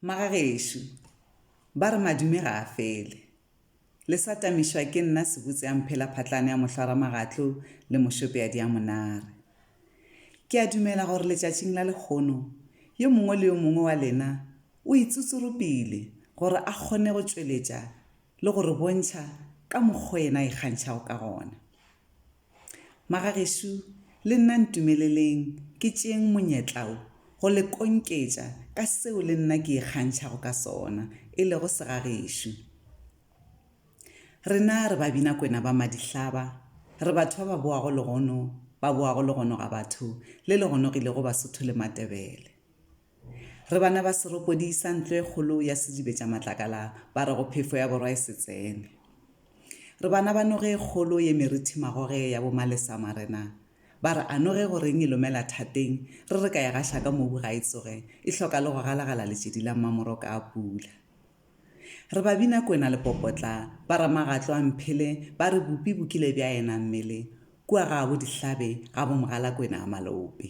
Magagešo, ba re madume ga a fele. Le sa tamišwa ke nna sebutse a mphela phatlane ya mohlwaramagatlo le mošopeadi ya monare. Ke a dumela gore letšatšing la lekgono yo mongwe le yo mongwe wa lena o itsutsuropile gore a kgone go tšweletša le go re bontšha ka mokgwa yena a ikgantšhago ka gona. Magagešu le nna ntumeleleng ke tšeeng monyetla wo go le konketša ka seo le nna ke ikgantšhago ka sona, e lego segagešo. Rena re Babinakwena ba Madihlaba re batho ba ba boago legono, ba boago legono ga batho le legonogilego Basotho le Matebele. Re bana ba seropodi sa ntlo e kgolo ya sedibetšamatlakala ba re go phefo ya borwa e se tsene. Re bana ba noge e kgolo ye merithi magoge ya bo Malesa marena ba re a noge go reng e lomela thateng re re ka e gaša ka mobu ga e tsoge e hloka le go galagala letšedi la mmamoro ka a pula. Re ba bina kwena le popotla ba ra magatlo a mphele ba re bupi bukile bja ena mmele kua ga bo dihlabe ga bo mogalakwena a malope.